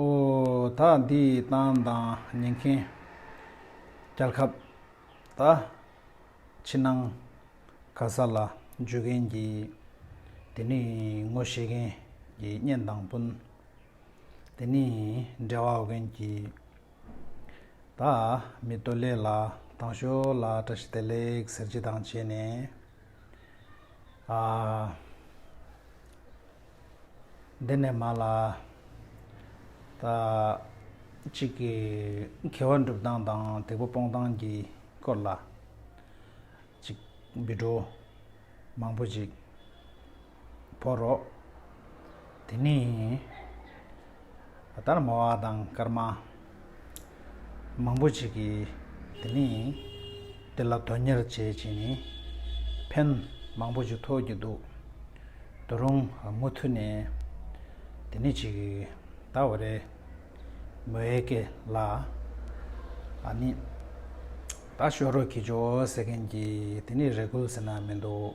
ཨོ། ད་འདིའི་གཏམ་དང་ཉན་མཁན། རྒྱལ་ཁབ། ད། ཕྱི་ནང། ག་ས་ལ་འཇུས་མཁན་གྱི། དེ་ནི་ངོ་ཤེས་མཁན་གྱི་གཉེན་དང་སྤུན། དེ་ནི་འབྲེལ་བ་འོ་མཁན་གྱི། ད། མི་སྟོད་ལས་ལ་དྭངས་ཤོར་ལ་བཀྲ་ཤིས་བདེ་ལེགས་ཟེར་གྱི་དང་བྱས་ནས། འདི་ནས་མ་ལ་ད་གཅིག་གི་མཁས་བ་འགྲུབ་སྟངས་དང་དེ་ཕོ་སྤོང་སྟངས་ཀྱི་སྐོར་ལ་གཅིག་འབུད་འགྲོ་མང་པོ་ཞིག་བོར་རོ། དེ་ནས་ད་ལྟར་མ་བ་དང་སྐར་མ་མང་པོ་ཞིག་གིས་དེ་ནས་དེ་ལ་དོན་གཉེར་བྱེད་ཅིང་ནི་ཕན་མང་པོ་ཞིག་ཐོགས་ཀྱི་འདུག་དུ་རུང་མུ་མཐུད་ནས་དེ་ནས་ཅིག་ད་བ་རེ་མོ་ཨེ་ཀེ་ལ་ཨ་ནི་ད་ཤོ་རོ་གྱིས་ཅོ་ཟེར་མཁན་གྱིས་དེ་ནས་རེ་སྐུལ་ཟེར་ན་མི་འདུག།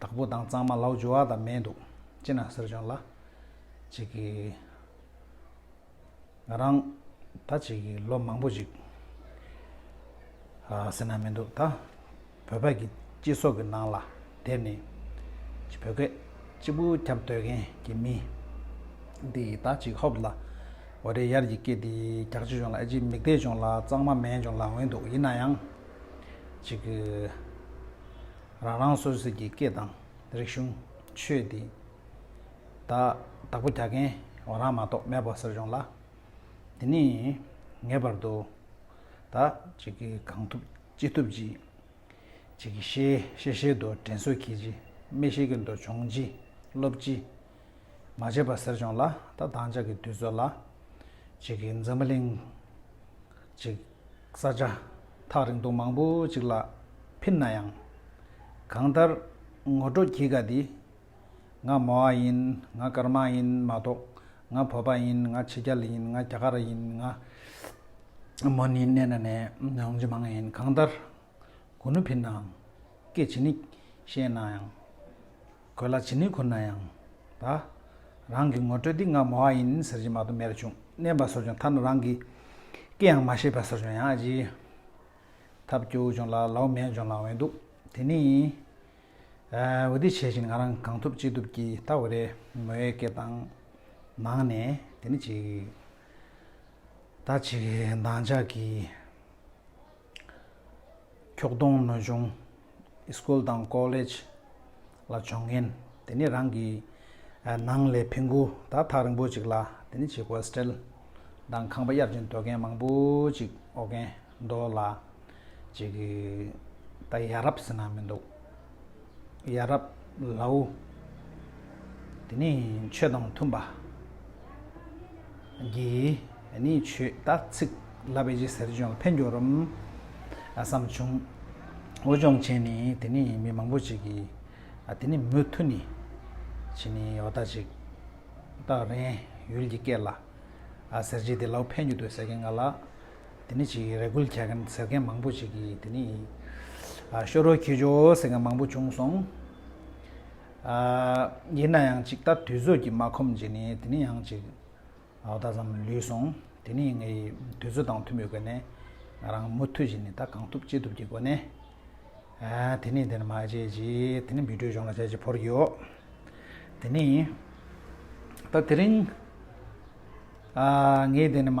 བདག་པོ་དང་གཙང་མ་ལག་འཇུ་བ་དང་མེད་འདུག་ཅེ་ན་ཟེར་བྱུང་ལ། ཅིག་གིས། ང་རང། ད་ཅིག་གིས་ལོ་མང་པོ་ཞིག། ཟེར་ན་མི་འདུག་ད། བོད་ཕག་གི་སྤྱི་ཚོགས་ཀྱི་ནང་ལ་དེབ་ནི། ཅིག་བོད་སྐད་གཅིག་པུ་ཁྱབ་སྡོད་མཁན་གྱི་མི། འདི་ད་ཅིག་ཧོབ་ལ། འོ་རེད་ཡར་གྱི་སྐད་འདི་རྒྱག་ཅི་བྱུང་ལ་ཨེ་ཅིག་མིག་བལྟས་བྱུང་ལ་གཙང་མ་མེད་བྱུང་ལ་འོན་འདུག་ཡིན་ན་ཡང། ཅིག་གིས། རང་རང་སོ་སོས་ཀྱི་སྐད་དང་རིག་གཞུང། ཆོས་འདི། དག་བདག་པོ་རྒྱག་མཁན་ངོ་རང་མ་གཏོགས་མེད་པ་ཟེར་བྱུང་ལ། འདི་ནི། ངེས་པར་དུ། དག་ཅིག་གིས་གང་ཐུབ་ཅི་ཐུབ་ཅིག། ཅིག་གིས་ཤེས་ཤེས་ཤེས་དུ་དྲན་གསོ་གྱིས་ཅི། མི་ཤེས་ཀྱི་འདོད་ཆུང་ཅི། སློབ་ཅི། མ་བྱེད་པ་ཟེར་བྱུང་ལ་ད་བདག་ཅག་གི་དུས་ཚོད་ལ། ཅིག་གིས་འཛམ་བུ་གླིང། ཅིག། ས་ཆ་ཐག་རིང་དུ་མང་པོ་ཅིག་ལ་ཕིན་ན་ཡང། གང་ལྟར་ངོ་སྤྲོད་གྱིས་ག་འདི། ང་མོ་ཨ་ཡིན་ང་སྐར་མ་ཡིན་མ་གཏོགས་ང་བོད་པ་ཡིན་ང་ཕྱི་རྒྱལ་ཡིན་ང་རྒྱ་གར་ཡིན་ང། མོ་ནི་གནས་ན་ནས་ནང་ཇི་མང་ཡིན་གང་ལྟར། གོ་ནུ་འཕེན་ནའང། སྐད་ཇི་ནི་བཤད་ནའང། གོས་ལྭ་ཇི་ནི་ཁུར་ནའང། ད། རང་གི་ངོ་སྤྲོད་འདི་ང་མོ་ཨ་ཡིན་ཟེར་གྱིན་མ་ཏོ་མེར་བྱུང་མནན་པ་ཟོར་བྱུང་ཐ་ན་རང་གི། སྐེའང་མ་ཤེས་པ་ཟོར་བྱུང་ཡང་ཨ་ཅི། ཐབས་སྐྱོ་བོ་བྱུང་ལ་ལ་བོ་མེད་བྱུང་ལ་འོན་འདུག་དེ་ནི། ཨའི་འོ་དེ་བྱས་བཞིན་ང་རང་གང་ཐུབ་ཅི་ཐུབ་ཀྱིས་ད་འོ་རེ་མོའི་སྐེ་དང། ནང་ནས་དེ་ནི་ཅིག། ད་ཅིག་འདང་ཅག་གིས། ཁྱོག་གདོང་ནོ་གཞུང། School དང College། ལ་འབྱོར་མཁན། དེ་ནས་རང་གི། ནང་ལས་འཕེན་རྒུ་དག་ཐག་རིང་པོ་ཅིག་ལ་དེ་ནས་བྱེད Hostel། དང་ཁང་པ་གཡར་ཅིང་སྡོད་མཁན་མང་པོ་ཅིག་ཨོ་རྒན། མདོ་ལ། ཅིག། ད་ཡ་རབས་ཟེར་ན་མི་འདུག། ཡ་རབ་ལའོ། དེ་ནས་ཆོས་དང་མཐུན་པ། གིས་ནི་ཆོས་དག་ཚིག་བསླབ་པའི་རྗེས་ཟེར་ཅུང་ཕན་འགྱུར་རམ། བསམ་བྱུང། འོ་ཅོག་བྱས་ནས་དེ་ནི་མི་མང་པོ་ཅིག་གིས། དེ་ནི་མུ་མཐུད་ནི། བྱས་ནས་བ་དག་ཅིག། བདག་རེན་ཡུལ་གྱི་སྐད་ལ། ཟེར་རྗེས་དེ་ལའོ་ཕན་རྒྱུ་འདོད་ཟེར་མཁན་ང་ལ། དེ་ནི་ཅིག་རེ་ཁུལ་བྱ་མཁན་ཟེར་མཁན་མང་པོ་ཞིག་གིས་དེ་ནི་ཤོ་རོ་ཁྱི་ཇོ་ཟེར་མཁན་མང་པོ་བྱུང་སོང། ཡིན་ན་ཡང་ཅིག་ད་དུས་ཚོད་ཀྱིས་མ་ཁོམ་རྗེས་ནས་དེ་ནི་ཡང་ཅིག་ཨའོ་ད་ཙམ་ལུས་སོང། དེ་ནི་ངའི་དུས་ཚོད་དང་མཐུན་པའི་སྒོ་ནས་ང་རང་མུ་མཐུད་བཞིན་ད་གང་ཐུབ་ཅི་ཐུབ་ཀྱི་སྒོ་ནས་དེ་ནི་དེ་ནི་མ་བྱས་རྗེས་དེ་ནི་འབུད་དཀྲོལ་གཞུང་ལ་བྱས་རྗེས་བོར་གྱི་ཡོད། དེ་ནི་ད་དེ་རིང་ངས་དེ་ནི་མ།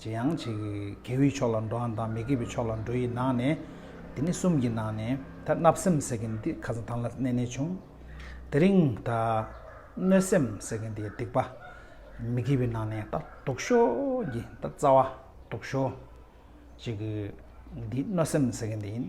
ཇེ་ཡང་ཇེ་དགེ་བའི་ཕྱོགས་ལ་འགྲོ་འམ་དང་མི་དགེ་བའི་ཕྱོགས་ལ་འགྲོ་ཡི་ནང་ནས། དེ་ནི་གསུམ་གྱི་ནང་ནས་ད་བརྣབ་སེམས་ཟེར་གྱི་འདི་ཁ་ཟང་ཐང་ལ་བསྣན་ནས་བྱུང། དེ་རིང་ད་གནོད་སེམས་ཟེར་གྱི་འདི་སྡིག་པ། མི་དགེ་བའི་ནང་ནས་ད་དུག་ཤོ་ཀྱི་ད་རྩ་བ་དུག་ཤོ། ཅེས་གྱི་འདི་གནོད་སེམས་ཟེར་གྱི་འདི་ཡིན།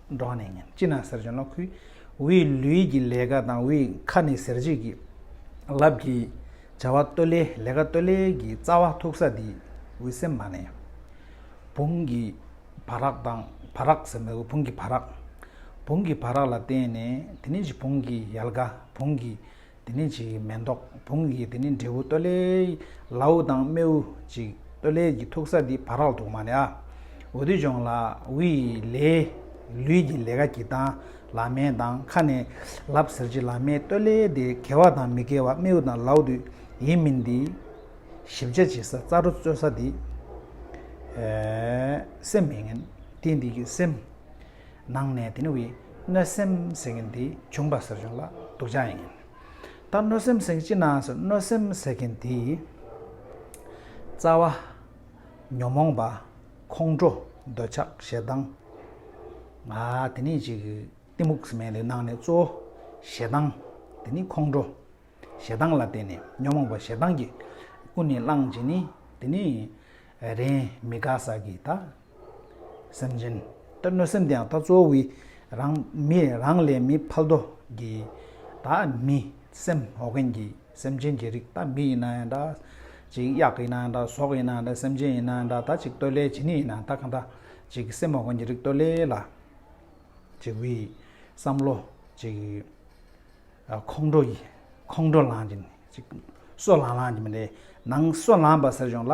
འབྲོག་ནས་ཉིན་གཅིག་ནང་ཟེར་ཅོ་ནང་ཁུལ་དབུས་ལུས་ཀྱི་ལས་ཀ་དང་དབུས་མཁར་ནས་ཟེར་བྱེད་ཀྱི་རླབས་ཀྱི་བྱ་བ་སྟོད་ལས་ལས་ཀ་སྟོད་ལས་ཀྱི་རྩ་བ་ཐུག་ས་འདི་དབུས་སེམས་མ་ནས་བུང་གི་བ་རག་དང་བ་རག་ཟེར་མི་དགོས་བུང་གི་བ་རག་བུང་གི་བ་རག་ལ་བརྟེན་ནས་དེ་ནས་བྱིས་བུང་གི་ཡལ་ག་བུང་གི་འདི་ནི་ཅིག་མེ་མདོག་བུང་ཡིག་འདི་ནི་འབྲས་བུ་སྟོད་ལས། ལཱུ་དང་རྨེའུ་ཅིག་སྟོད་ལས་ཀྱི་ཐུག་ས་འདི་བ་རག་ཐུག་མ་ལ། འུ་དུ་ཅོང་ལ་འུ་ཡི་ལས། ལུས་ཀྱི་ལས་ཀ་གྱི་དང་ལ་མའི་དང་ཁ་ནས་ལབ་ཟེར་གྱི་ལ་མའི་སྟོད་ལས་དེ་གལ་བ་དང་མི་གལ་བ་རྨེའུ་དང་ལཱུ་དུ་ཡིན་མིན་འདི། ཞིབ་ཆ་བྱེད་ས་རྩ་རོ་རྩོད་ས་འདི། སེམས་མི་ངན་དེ་འདི་གི་སེམས། ནང་ནས་དེ་ནི་བའི་གནོད་སེམས་ཟེར་མཁན་དེ་བྱུང་པ་ཟེར་བྱུང་ལ་སྡུག་ཅག་ཡིན། ད་གནོད་སེམས་ཟེར་མཁན་ཅི་ནང་སོ་གནོད་སེམས་ཟེར་མཁན་དེ། རྩ་བ། ཉོན་མོངས་པ། ཁོང་ཁྲོ། འདོད་ཆགས་ཞེ་སྡང། ང་དེ་ནི་ཅིག་གཏི་མུག་ཟེར་མཁན་དེ་ནང་ནས་གཙོ་བོ་ཞེ་སྡང། དེ་ནི་ཁོང་ཁྲོ། ཞེ་སྡང་ལ་བརྟེན་ནས་ཉོན་མོངས་པ་ཞེ་སྡང་གི་ཀུན་ནས་བསླངས་རྗེས་ནི་དེ་ནི་རེས་མི་དགའ་ས་ཀྱི་ད་སེམས་ཅན། ཏེ་གནོད་སེམས་དེའང་ལྟ་གཙོ་བོའི། རང། མི། རང་ལས་མི་ཕལ་དོ། ཀྱི། དག། མི། སེམས། ཨོ་རྒྱན་གྱི། སེམས་ཅན་གྱི་རིགས་ད་མི་ཡིན་ན་ཡང་འདྲ། ཅིག། གཡག་ཡིན་ན་ཡང་འདྲ་ཟོག་ཡིན་ན་ཡང་འདྲ་སེམས་ཅན་ཡིན་ན་ཡང་འདྲ་ད་ཅིག་སྟོད་ལའི་བྱེ་ནི་ཡིན་ན་ད་གང་འདྲ། ཅིག། སེམས་ཨོ་རྒྱན་གྱི་རིགས་སྟོད་ལའི་ལ། ཅིག། བི། བསམ་བློ། ཅིག། ཁོང་ཁྲོ། ཡི། ཁོང་ཁྲོ་ལངས། ཅིག། སོ་ལངས་ལངས་ཀྱི་མི་འདྲའི། ནང། སོ་ལངས་པ་ཟེར་བྱུང་ལ།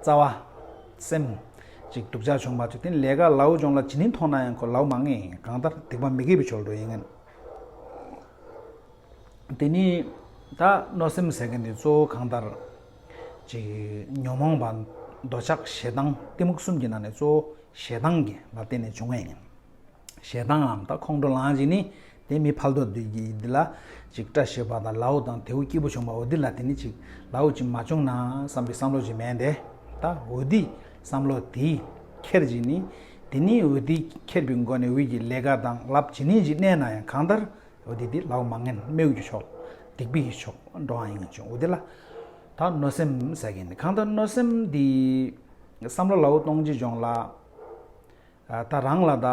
རྩ་བ། སེམས། ཅིག་སྡུག་ཅག་བྱུང་མ་ཐུབ་དེ་ལས་ཀ་ལའུ་སྦྱོང་ལ་ཇི་ནི་མཐོང་ན་ཡང་ཁོ་ལའུ་མ་ངེས་ཡིན་གང་ལྟར་སྡིག་པ་མི་དགེ་བའི་ཕྱོགས་འགྲོ་ཡིན་ངེས། དེ་ནི། ད་གནོད་སེམས་ཟེར་མཁན་དེ་གཙོ་བོ་གང་ལྟར། ཅིག་ཉོན་མོངས་པ། འདོད་ཆགས་ཞེ་སྡང་གཏི་མུག་གསུམ་གྱི་ནང་ནས་གཙོ་བོ་ཞེ་སྡང་གི་ལ་བརྟེན་ནས་བྱུང་ངེས་ཡིན། ཞེ་སྡང་ངམ་ཁོང་ཁྲོ་ལངས་ཅིག་ནི། དེ་མི་ཕལ་དོག་འདོད་ཀྱིས་འདི་ལ། ཅིག་སྐྲ་བྱེད་པ་དང་ལའུ་དང་དེའུ་སྐྱིད་པོ་བྱུང་བ་འོ་འདི་ལ་དེ་ནི་ཅིག། ལའུ་ཅིག་མ་བྱུང་ན་བསམ་པའི་བསམ་བློ་ཅིག་མེད་དེ། ད་འོ་འདི་བསམ་བློ་དེས་ཁྱེར་ཅིག་ནི། དེ་ནི་འོ་འདི་ཁྱེར་པའི་མགོ་ནས་འོད་ཀྱི་ལས་ཀ་དང་རླབས་ཇི་སྙེད་ཅིག་གནས་ན་ཡང་གང་ལྟར། འོ་འདི་འདི་ལའུ་མ་ངན་སྨྲེའུ་ཀྱི་ཕྱོགས། སྡིག་པའི་ཕྱོགས་འགྲོ་འང་ཡིན་ངེས་བྱུང་འོ་འདི་ལ། ད་གནོད་སེམས་ཟེར་གྱིས་ནི་གང་ལྟར་གནོད་སེམས་འདི། བསམ་བློ་ལའུ་སྟོང་གཅིག་འབྱུང་ལ། ད་རང་ལ་ད་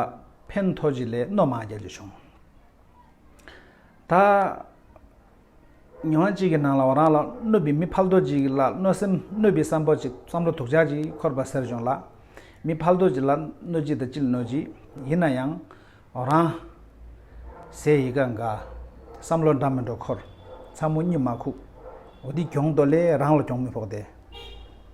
ཕན་ཐོགས་ཅིག་ལས་རྣོ་མང་རྒྱག་རྒྱུ་བྱུང། ད་ཉི་མ་གཅིག་གི་ནང་ལ་བ་རང་ལ་གནོད་པའི་མི་ཕལ་དོ་ཅིག་ལ་གནོད་སེམས་གནོད་པའི་བསམ་བོ་ཅིག་བསམ་བློ་དུག་ཆགས་ཅིག་འཁོར་བ་ཟེར་བྱུང་ལ། མི་ཕལ་དོ་ཅིག་ལ་གནོད་ཅིག་ད་ཅི་ལ་གནོད་ཅིག་ཡིན་ན་ཡང་བ་རང། ཟས་ཡི་ག་འགའ། བསམ་བློ་འདྲ་མི་འགྲོ་འཁོར་ཚ་མོ་སྙུན་མ་ཁུག་འོ་འདི་གྱོང་དོ་ལས་རང་ལ་གྱོང་མི་ཕོག་སྟེ།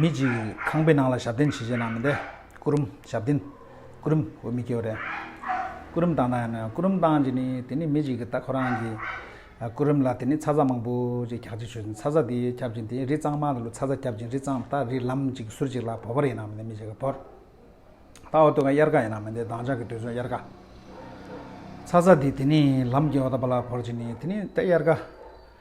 མི་གཅིག་ཁང་པའི་ནང་ལ་ཞབས་བརྟན་བྱེད་བྱེད་ནང་མི་བསྡད། སྐུ་རུམ་ཞབས་བརྟན། སྐུ་རུམ་འོ་མི་སྐྱོ་རེད། སྐུ་རུམ་བཏང་ན་ཡང་ན་སྐུ་རུམ་བཏང་རྗེས་ནི་དེ་ནི་མི་གཅིག་གིས་ད་ཁོ་རང་གི་སྐུ་རུམ་ལ་དེ་ནི་ཚ་ཚ་མང་པོ་ཅིག་རྒྱག་རྩིས་བྱོས་ཚ་ཚ་དེ་ཁྱབ་ཅིང་དེ་རི་གཙང་མ་ལ་ལོ་ཚ་ཚ་ཁྱབ་ཅིང་རི་གཙང་ད་རི་ལམ་གཅིག་ཟུར་གཅིག་ལ་བོར་བར་ཡིན་ནང་མི་བསྡད་མི་གཅིག་གིས་བོར། ད་འོ་དོད་ཀ་དབྱར་ཀ་ཡིན་ནང་མི་བསྡད་དྭངས་ཆགས་ཀྱི་དུས་ཚོད་དབྱར་ཀ། ཚ་ཚ་དེ་དེ་ནི་ལམ་གྱི་འོ་ད་པ་ལ་བོར་རྗེས་ནི་དེ་ནི་ད་དབྱར་ཀ།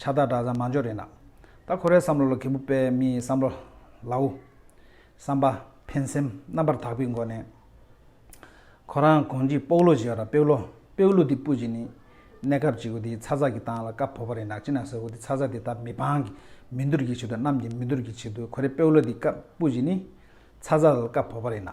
ཕྱག་རྟགས་བསྒྲགས་ཙང་མ་འཇོག་རེད་ན། ད་ཁོ་རའི་བསམ་བློ་ལ་གད་བུ་སྤེལ་མི་བསམ་བློ་ལའོ། བསམ་པ། ཕན་སེམས་རྣམ་པར་དག་པའི་སྒོ་ནས། ཁོ་རང་གོང་གྱི་སྤོག་ལུག་ཞེས་བ་ར་སྤེའུ་ལོ་སྤེའུ་ལུག་འདི་སྤུད་ཀྱི་ནི། གནས་སྐབས་གཅིག་བུ་དེའི་ཚ་ཚ་གི་སྟངས་ལ་སྐབས་བོ་བ་རེད་ནག་ཅིག་ན་ཟེར་བུ་དེ་ཚ་ཚ་དེ་ད་མི་འཕང་གི་མི་འདུར་གྱི་ཆེད་དུ་གནམ་གྱི་མི་འདུར་གྱི་ཆེད་དུ་ཁོ་རའི་སྤེའུ་ལོ་འདི་སྐབས་སྤུད་ཀྱི་ནི། ཚ་ཚ་ལ་སྐབས་བོ་བ་རེད་ནག།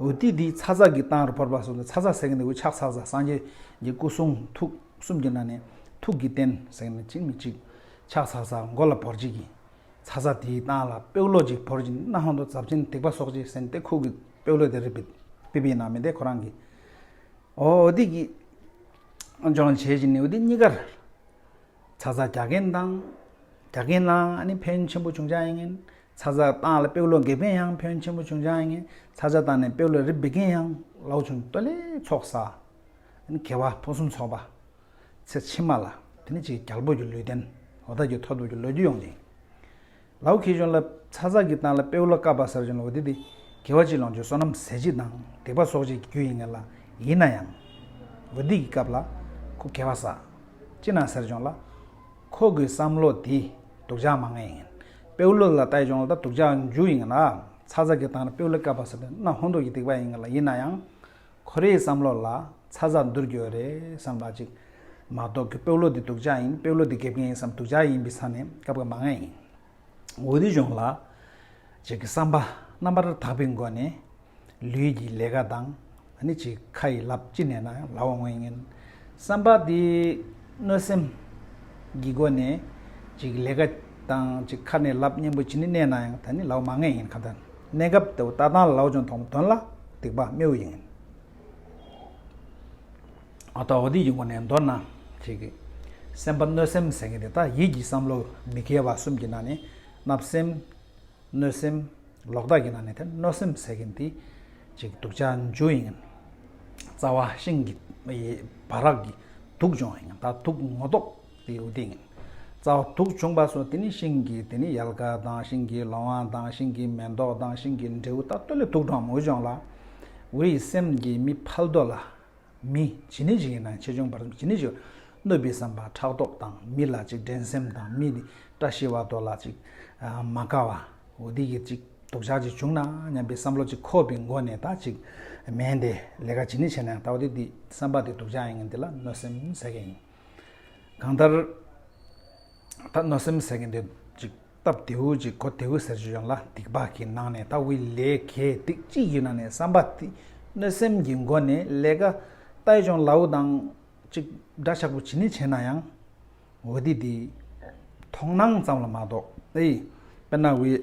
འོད་ཏིག་ཏིག་ཚ་ཚ་གི་སྟངས་རུ་བོར་བ་སོགས་ཀྱི་ཚ་ཚ་ཟེར་གྱིན་འདུག་ཕྱག་ཚ་ཚ་སངས་རྒྱས་ཀྱི་སྐུ་གསུང་ཐུགས་གསུམ་གྱི་ནང་ནས་ཐུགས་ཀྱི་རྟེན་ཟེར་ནས་ཅིག་མི་གཅིག་ཕྱག་ཚ་ཚ་མགོ་ལ་བོར་བྱེད་ཀྱིས། ཚ་ཚ་དེའི་སྟངས་ལ་དཔེ་ཀློག་ཅིག་བོར་བྱིན་རྣ་ཧང་དུ་རྫབ་ཆེན་དིག་པ་སོགས་ཅིག་ཟིན་ཏེ་ཁུག་གི་དཔེ་ཀློག་དེ་རི་པི་པི་པི་ནང་མི་བསྡད་ཁོ་རང་གི་འོ་ཏིག་ཏིག་ལྗོངས་བྱེད་བཞིན་འོད་ཏིག་གཉིས་ཀར་ཚ་ཚ་རྒྱག་གིན་སྟངས་རྒྱག་གིན་སྣང་ཨ་ནི་ཕན་ཆེན་པོ་བྱུང་ཆ་ཡིན་ངན་ཚ་ཚ་བཏང་ལ་སྤེའུ་ལོ་འགས་པིན་ཡང་ཕོན་ཆེན་པོ་བྱུང་ཅང་ཡིན་ཚ་ཚ་བཏང་ནས་སྤེའུ་ལོ་རིབ་འབི་གིན་ཡང་ལོག་བྱུང་སྟོད་ལས་ཚོགས་བསགས། དེ་ནི་གེ་བ་ཕུན་སུམ་ཚོགས་པ། ཚེ་ཕྱི་མ་ལ་དེ་ནི་ཅིག་རྒྱལ་པོ་ཀྱི་ལུས་རྟེན་ལོ་ཐར་གྱི་ཐོ་ཐོབ་ཀྱི་ལོ་རྒྱུས་ཡོང་ཅིང། ལའུ་ཁེ་ཆུང་ལ་ཚ་ཚ་གིས་བཏང་ལ་སྤེའུ་ལོ་བཀབ་པ་གསར་བྱུང་ལོ་དེ་དེ་གེ་བ་གཅིག་ལོངས་སྤྱོད་བསོད་ནམས་ཟས་བྱིད་དང་སྡིག་པ་གསོག་བྱེད་ཀྱི་རྒྱུ་ཡིན་ངེས་ལ་ཡིན་ན་ཡང། ལོ་དེ་གིས་བཀབ་ལ་ཁོ་གེ་བ་བསགས། ཅི་ན་གསར་བྱུང་ལ། ཁོ་གི་བསམ་བློ་དེ་སྡུག་ཅག་མ་ངེས་ཡིན། པེའུ་ལོ་ལ་ལྟ་ཡི་སྦྱོང་ལ་ལྟ་སྡུག་ཅག་འཇུག་ཡིན་ལ། ཚ་ཚ་གི་སྟངས་ལ་པེའུ་ལོ་བསྐལ་པ་ཟེར་དུས་སྣ་ཧོན་དུག་གི་སྡིག་པ་ཡིན་ལ་ཡིན་ན་ཡང། ཁོ་རེའི་བསམ་བློ་ལ་ཚ་ཚ་འདུར་རྒྱུ་རེད་བསམ་ལ་ཅིག། མ་གཏོགས་གི་པེའུ་ལོ་འདི་སྡུག་ཅག་ཡིན་པེའུ་ལོ་འདི་དགེ་རྒན་ཡིན་བསམ་སྡུག་ཅག་ཡིན་པའི་ས་ནས་བསྐལ་པ་མ་ངེས་ཡིན། འོད་གཞུང་ལ། ཅིག་བསམ་པ་རྣམ་པར་དག་པའི་སྒོ་ནས། ལུས་ཀྱི་ལས་ཀ་དང་ནི་ཅིག་ཁ་ཡི་ལབ་ཅི་ནས་ན་ལ་བ་མངོན་ངན། བསམ་པ་འདི་གནོད་སེམས་ཀྱི་སྒོ་ནས། ཅིག་ལས་ཀ་དང་ཅིག་ཁ་ནས་ལབ་གཉེན་པོ་ཇི་ནི་གནས་ན་ཡང་ད་ནི་ལ་བ་མ་ངན་ཡིན་ག་ད་གནས་སྐབས་དེ་བ་ད་དང་ལ་བ་ཅུང་ཐོག་མ་དོན་ལ་སྡིག་པ་རྨེའུ་ཡིན། ཨ་ཏའོ་འདི་ཡི་སྒོ་ནས་མདོར་ན། ཁྱེད་ཀྱིས་སེམས་པ་གནོད་སེམས་ཟེར་མཁན་དེ་དག་ཡིད་ཀྱི་བསམ་བློ་མི་དགེ་བ་གསུམ་གྱི་ནང་ནས་བརྣབ་སེམས། གནོད་སེམས། ལོག་ལྟ་གྱི་ནང་ནས་དེ་གནོད་སེམས་ཟེར་མཁན་དེ། ཅིག་དུག་ཆ་འཇུ་ཡིན། རྩ་བ་ཤིང་གི་བ་རག་གི་དུག་འཇོམས་ཡིན་ད་དུག་ངོ་ཟློག་དེ་ཡོད་དེ་ཡིན། རྩ་བ་དུག་བྱུང་པ་སོགས་དེ་ནི་ཤིང་གི་དེ་ནི་ཡལ་ག་དང་ཤིང་གི་ལོང་བ་དང་ཤིང་གི་མེ་མདོག་དང་ཤིང་གི་འབྲས་བུ་ད་སྟོད་ལས་དུག་འགྲོ་འམ་འུར་འཇོམས་ལ། འུ་ཡི་སེམས་ཀྱི་མི་ཕལ་དོ་ལ་མི། ཇི་ནི་ཇི་ཡི་ནང་ཆེ་ཆུང་བར་གསུམ་ཇི་ནི་ཇི། གནོད་པའི་བསམ་པ་ཕྲག་དོག་དང་མི་ལ་ཅིག་འགྲན་སེམས་དང་མི་ནི་བཀྲ་ཤིས་བ་དོ་ལ་ཅིག། མ་དགའ་བ། འོ་དེ་ཀྱི་ཅིག་སྡུག་ཅག་ཅིག་བྱུང་ན་སྙམ་པའི་བསམ་བློ་ཅིག་ཁོ་བའི་མགོ་ནས་ད་ཅིག་མེད་དེ། ལས་ཀ་ཇི་ནི་བྱས་ན་ཡང་ད་བ་དེ་དེ་བསམ་པ་དེ་སྡུག་ཅག་ཡིན་ངེས་འདི་ལ་གནོད་སེམས་ཟེར་མཁན་ཡིན། གང་ལྟར། ད་གནོད་སེམས་ཟེར་གྱི་འདུག་ཅིག་སྟབས་བདེའུ་ཅིག་གོ་བདེའུ་ཟེར་རྒྱུ་ཡོང་ལ་སྡིག་པ་གི་ནང་ནས་ད་དབུས་ལས་གས་སྡིག་ཅིག་ཡུལ་ནང་ནས་བསམ་པ་དེ་གནོད་སེམས་ཀྱི་མགོ་ནས་ལས་ཀ་ལྟ་ཡི་ཅོང་ལའུ་དང་ཅིག་འདྲ་ཆགས་པོ་བྱེད་ནི་བྱེད་ན་ཡང་འོ་དེ་དེ་ཐོང་སྣང་ཙམ་ལ་མ་གཏོགས་ཨེ་དཔེར་ན་དབུས།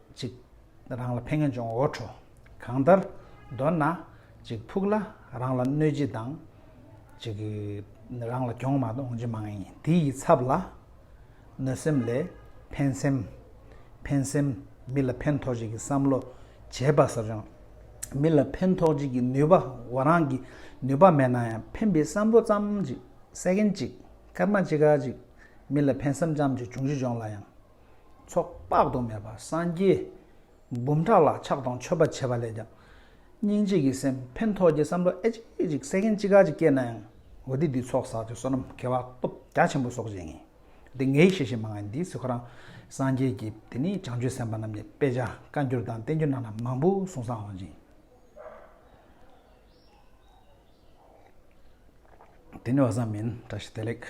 ཅིག། རང་ལ་ཕན་ངན་འབྱུང་འོ་བྲོ། གང་ལྟར། མདོར་ན། ཅིག་ཕུག་ལ་རང་ལ་གནོད་སྦྱིན་དང། ཅིག། རང་ལ་གྱོང་མ་དང་འོང་སྦྱིན་མ་ཡིན་དེ་ཡི་ཚབ་ལ། གནོད་སེམས་ལས། ཕན་སེམས། ཕན་སེམས། མི་ལ་ཕན་ཐོགས་བྱེད་ཀྱི་བསམ་བློ། བྱེད་པ་ཟབ་ཅིང། མི་ལ་ཕན་ཐོགས་བྱེད་ཀྱི་ནུས་པ་བ་རང་གི་ནུས་པ་མེད་ན་ཡང་ཕན་པའི་བསམ་བློ་ཙམ་ཅིག་སད་མཁན་ཅིག་སྐར་མ་ཅི་ག་ཅིག་མི་ལ་ཕན་སེམས་ཙམ་ཅིག་འབྱུང་གཞི་སྦྱོང་ལ་ཡང། ཚོགས་དཔག་ཏུ་མེད་པ་སངས་རྒྱས་འབུམ་ཕྲག་ལ་ཕྱག་དང་མཆོད་པ་བྱས་པ་ལས་ཀྱང་སྙིང་རྗེ་ཡི་སེམས་ཕན་ཐོགས་ཀྱི་བསམ་བློ་ཨེ་ཅིག་ཨེ་ཅིག་སེ་གན་ཅི་ག་ཅིག་སྐྱེས་ན་ཡང་འོ་དེ་དུས་ཚོགས་བསགས་ཀྱི་བསོད་ནམས་བསྐལ་བ་སྟོབས་རྒྱ་ཆེན་པོ་གསོག་བྱེད་ངེས་དེ་ངའི་ཤེས་བྱེད་མ་ང་འདིས་ཚོད་ཁོ་རང་སངས་རྒྱས་ཀྱི་དེ་ནས་བྱང་ཆུབ་སེམས་དཔའ་རྣམས་ཀྱི་དཔེ་ཆ་བཀའ་འགྱུར་དང་བསྟན་འགྱུར་རྣམས་ལ་མང་པོ་གསུང་སང་འོང་ཅིང། དེ་ནས་བ་ཟང་མིན་བཀྲ་ཤིས་བདེ་ལེགས།